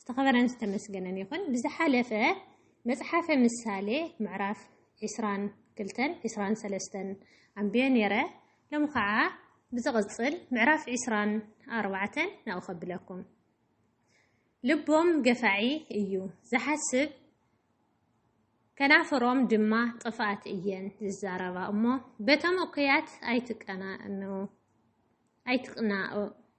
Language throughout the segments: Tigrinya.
ዝተኸበረን ዝተመስገነን ይኹን። ብዝሓለፈ መጽሓፈ ምሳሌ ምዕራፍ ዕስራን ክልተን ዕስራን ሰለስተን ኣንብየ ነይረ። ሎሚ ኸዓ ብዝቕጽል ምዕራፍ ዕስራን ኣርባዕተን ናብኡ ከብለኩም። ልቦም ገፋዒ እዩ ዝሓስብ ከናፍሮም ድማ ጥፍኣት እየን ዝዛረባ እሞ በቶም እኩያት ኣይትቀናእኑ ኣይትቅናኡ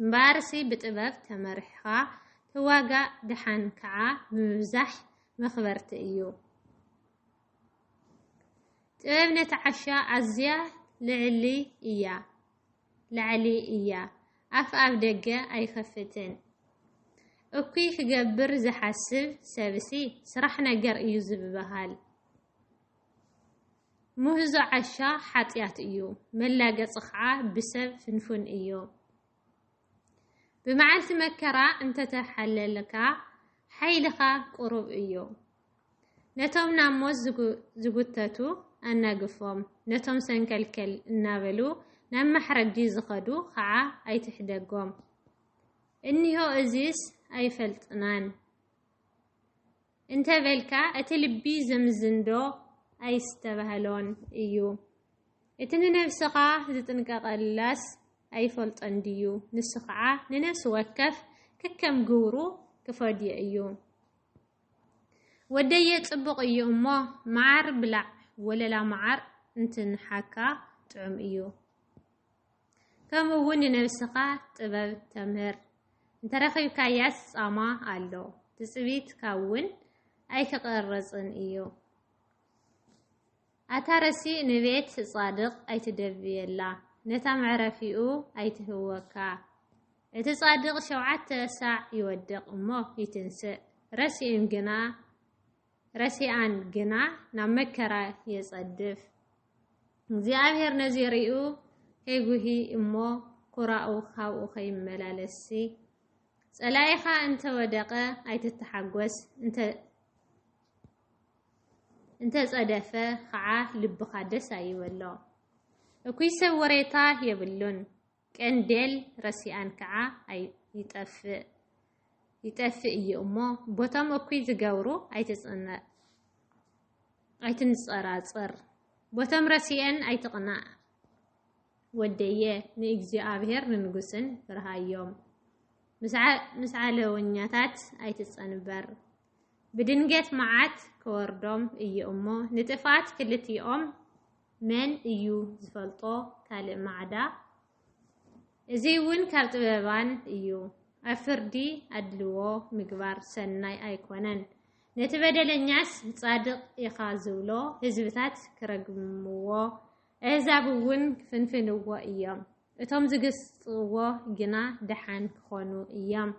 እምበኣርሲ ብጥበብ ተመሪሕኻ ተዋጋእ ደሓን ከኣ ምብዛሕ መኽበርቲ እዩ። ጥበብ ነቲ ዓሻ ኣዝያ ልዕሊ እያ ላዕሊ እያ ኣፍ ኣብ ደገ ኣይኸፍትን። እኩይ ክገብር ዝሓስብ ሰብሲ ስራሕ ነገር እዩ ዝብሃል። ምህዞ ዓሻ ሓጥያት እዩ፣ መላገጺ ኸዓ ብሰብ ፍንፉን እዩ። ብመዓልቲ መከራ እንተ ተሓለልካ፣ ሓይልኻ ቁሩብ እዩ። ነቶም ናብ ሞት ዝጉተቱ ኣናግፎም፣ ነቶም ሰንከልከል እናበሉ ናብ ማሕረዲ ዝኸዱ ኸዓ ኣይትሕደጎም። እኒሆ እዚስ ኣይፈልጥናን። እንተ በልካ እቲ ልቢ ዘምዝንዶ ኣይስተባህሎን እዩ? እቲ ንነብስኻ ዝጥንቀቐላስ ኣይፈልጦን ድዩ? ንሱ ኸዓ ንነፍሲ ወከፍ ከከም ግብሩ ክፈድዮ እዩ። ወደየ ጽቡቕ እዩ እሞ መዓር ብላዕ፣ ወለላ መዓር እንትንሓካ ጥዑም እዩ። ከምኡ እውን ንነብስኻ ጥበብ ተምህር። እንተረኺብካያስ ጻማ ኣሎ ትጽቢትካ እውን ኣይክቐርጽን እዩ። ኣታ ረሲእ ንቤት ጻድቕ ኣይትደብየላ ነታ መዕረፊኡ ኣይትህወካ። እቲ ጻድቕ ሸውዓተ ሳዕ ይወድቕ እሞ ይትንስእ፣ ረሲእም ግና ረሲኣን ግና ናብ መከራ የጸድፍ። እግዚኣብሔር ነዚ ሪኡ ከይጉሂ እሞ ኩራኡ ካብኡ ከይመላለስሲ ጸላኢኻ እንተ ወደቐ ኣይትተሓጎስ እንተ እንተጸደፈ ኸዓ ልብኻ ደስ ኣይበሎ። እኩይ ሰብ ወሬታ የብሉን። ቀንዴል ረሲኣን ከኣ ኣይጠፍእ ይጠፍእ እዩ እሞ ቦቶም እኩይ ዝገብሩ ኣይትንጸራጸር ቦቶም ረሲኤን ኣይትቕናእ ወደየ ንእግዚኣብሔር ንንጉስን ፍርሃዮም ምስ ዓለወኛታት ኣይትጸንበር ብድንገት መዓት ክወርዶም እዩ እሞ ንጥፍኣት ክልቲኦም መን እዩ ዝፈልጦ ካልእ ማዕዳ እዙይ እውን ካብ ጥበባን እዩ ኣብ ፍርዲ ኣድልዎ ምግባር ሰናይ ኣይኮነን ነቲ በደለኛስ ጻድቕ ኢኻ ዝብሎ ህዝብታት ክረግምዎ ኣህዛብ እውን ክፍንፍንዎ እዮም እቶም ዝግስጥዎ ግና ደሓን ክኾኑ እዮም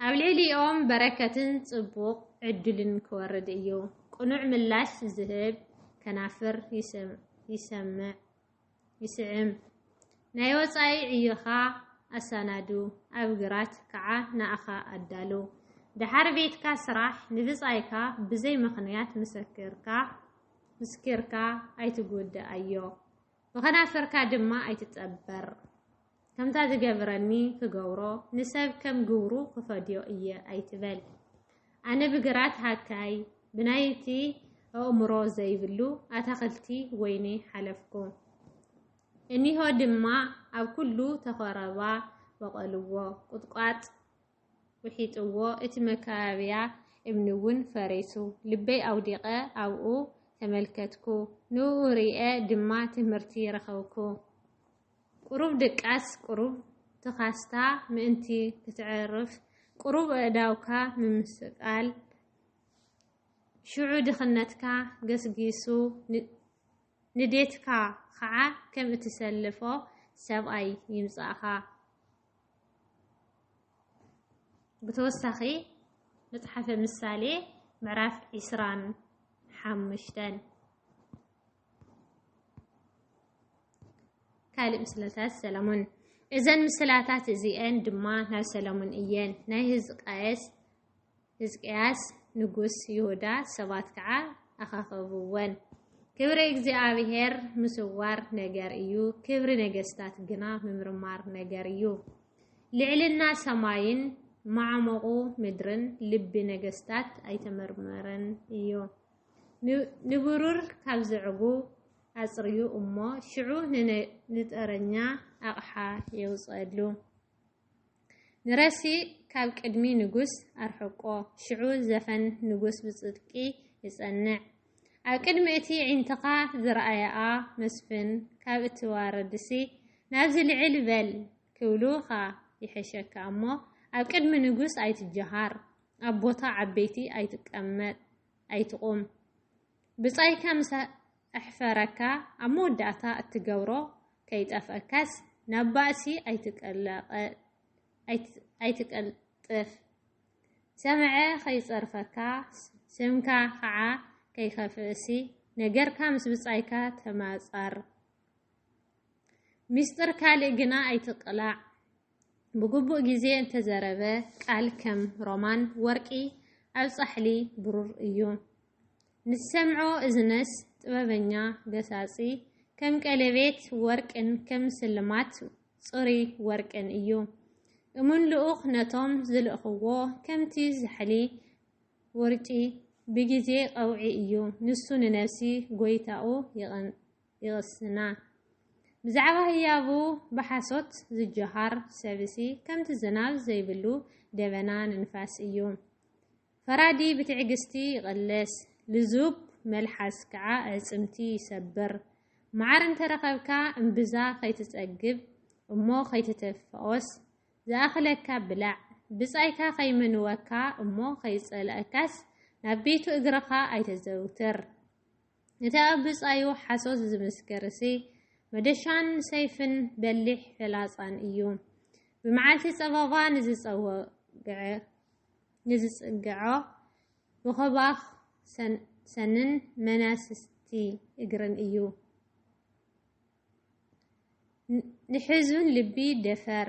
ኣብ ልዕሊኦም በረከትን ጽቡቕ ዕድልን ክወርድ እዩ። ቅኑዕ ምላሽ ዝህብ ከናፍር ይስምዕ፣ ይስዕም። ናይ ወጻኢ ዕዮኻ ኣሳናዱ፣ ኣብ ግራት ከኣ ንኣኻ ኣዳሉ። ደሓር ቤትካ ስራሕ፣ ንብጻይካ ብዘይ ምኽንያት ምስክርካ ምስኪርካ ኣይትጉድኣዮ፣ ብኸናፍርካ ድማ ኣይትጠበር። ከምታ ዝገብረኒ ክገብሮ ንሰብ ከም ግብሩ ክፈድዮ እየ ኣይትበል። ኣነ ብግራት ሃካይ ብናይቲ ኣእምሮ ዘይብሉ ኣታኽልቲ ወይኒ ሓለፍኩ። እኒሆ ድማ ኣብ ኩሉ ተኸረባ በቐልዎ፣ ቁጥቋጥ ውሒጥዎ፣ እቲ መካበብያ እምኒ እውን ፈሪሱ። ልበይ ኣውዲቐ ኣብኡ ተመልከትኩ፣ ንእኡ ርእየ ድማ ትምህርቲ ረኸብኩ። ቁሩብ ድቃስ ቁሩብ ትካስታ ምእንቲ ክትዕርፍ ቁሩብ ኣእዳውካ ምምስቃል ሽዑ ድኽነትካ ገስጊሱ ንዴትካ ኸዓ ከም እትሰልፎ ሰብኣይ ይምጻእኻ። ብተወሳኺ መጽሓፈ ምሳሌ ምዕራፍ ዕስራን ሓሙሽተን ካልእ ምስላታት ሰለሙን እዘን ምስላታት እዚኤን ድማ ናይ ሰለሙን እየን። ናይ ህዝቃየስ ህዝቅያስ ንጉስ ይሁዳ ሰባት ከዓ ኣኻኸብወን። ክብሪ እግዚኣብሔር ምስዋር ነገር እዩ፣ ክብሪ ነገስታት ግና ምምርማር ነገር እዩ። ልዕልና ሰማይን ማዕመቑ ምድርን ልቢ ነገስታት ኣይተመርመረን እዩ። ንብሩር ካብ ዘዕጉ ኣጽርዩ እሞ ሽዑ ንጠረኛ ኣቕሓ የውጽኣሉ። ንረሲእ ካብ ቅድሚ ንጉስ ኣርሕቆ፣ ሽዑ ዘፈን ንጉስ ብጽድቂ ይጸንዕ። ኣብ ቅድሚ እቲ ዒንትኻ ዝረኣያኣ መስፍን ካብ እትዋረድሲ ናብዚ ልዕል በል ክብሉኻ ይሕሸካ እሞ ኣብ ቅድሚ ንጉስ ኣይትጀሃር፣ ኣብ ቦታ ዓበይቲ ኣይትቀመጥ። ኣይትቑም ብጻይካ ምስ ኣሕፈረካ ኣብ መወዳእታ እትገብሮ ከይጠፍኣካስ ናብ ባእሲ ኣይትቀልጥፍ ሰምዐ ከይጸርፈካ ስምካ ኸዓ ከይከፍእሲ ነገርካ ምስ ብጻይካ ተማጻር ሚስጥር ካልእ ግና ኣይትቕላዕ ብግቡእ ግዜ እንተዘረበ ቃል ከም ሮማን ወርቂ ኣብ ጻሕሊ ብሩር እዩ። ንዝሰምዖ እዝነስ ጥበበኛ ገሳጺ ከም ቀሌቤት ወርቅን ከም ስልማት ጽሩይ ወርቅን እዩ። እሙን ልኡኽ ነቶም ዝልእኽዎ ከምቲ ዛሕሊ ውርጪ ብግዜ ቐውዒ እዩ። ንሱ ንነብሲ ጎይታኡ ይቕንእ። ይቕስና። ብዛዕባ ህያቡ ብሓሶት ዝጀሃር ሰብሲ ከምቲ ዝናብ ዘይብሉ ደበና ንንፋስ እዩ። ፈራዲ ብትዕግስቲ ይቕለስ፣ ልዙብ መልሓስ ከዓ ኣዕፅምቲ ይሰብር። መዓር እንተረኸብካ እምብዛ ከይትፀግብ እሞ ከይትተፋኦስ ዝኣኽለካ ብላዕ። ብፃይካ ከይመንወካ እሞ ከይፀልኣካስ ናብ ቤቱ እግርኻ ኣይተዘውትር። እቲ ኣብ ብጻዩ ሓሶት ዝምስክርሲ፣ መዶሻን ሰይፍን በሊሕ ፍላጻን እዩ። ብመዓልቲ ጸበባ ንዝጸውግዖ ብኮባኽ ሰንን መናስቲ እግርን እዩ። ንሕዙን ልቢ ደፈር!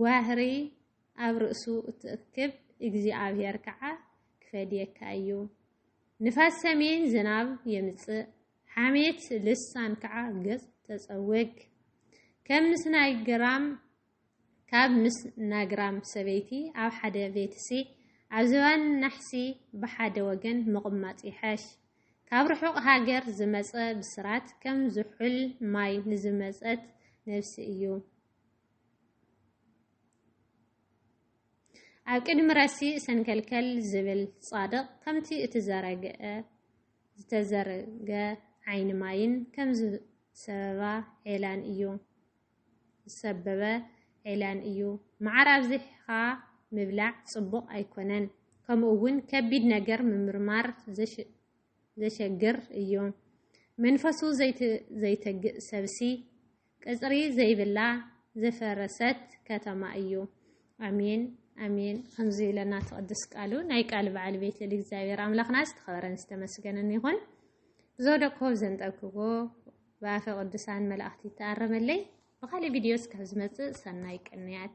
ጓህሪ ኣብ ርእሱ እትእክብ እግዚኣብሄር ከዓ ክፈድየካ እዩ። ንፋስ ሰሜን ዝናብ የምጽእ፣ ሓሜት ልሳን ከዓ ገጽ ተጸውግ። ከም ምስ ናይ ግራም ካብ ምስ ናግራም ሰበይቲ ኣብ ሓደ ቤትሲ ኣብ ዝባን ናሕሲ ብሓደ ወገን ምቕማጥ ይሐሽ። ካብ ርሑቕ ሃገር ዝመጸ ብስራት ከም ዝሑል ማይ ንዝመጸት ነብሲ እዩ። ኣብ ቅድሚ ረሲእ ሰንከልከል ዝብል ጻድቕ ከምቲ እቲ ዘረግአ ዝተዘርገ ዓይኒ ማይን ከም ዝሰበባ ዔላን እዩ ዝሰበበ ዔላን እዩ። መዓር ኣብዚሕኻ ምብላዕ ጽቡቕ ኣይኮነን፣ ከምኡ እውን ከቢድ ነገር ምምርማር ዘሸግር እዩ። መንፈሱ ዘይተግእ ሰብሲ ቅጽሪ ዘይብላ ዝፈረሰት ከተማ እዩ። ኣሜን ኣሜን ከምዚ ኢለና ትቅድስ ቃሉ ናይ ቃል በዓል ቤት ልል እግዚኣብሔር ኣምላኽና ዝተኸበረን ዝተመስገነን ይኹን። ብዘወደቅኩ ዘንጠብክዎ ብኣፈ ቅዱሳን መላእኽቲ ይተኣረመለይ። ብካልእ ቪድዮ እስካብ ዝመጽእ ሰናይ ቅንያት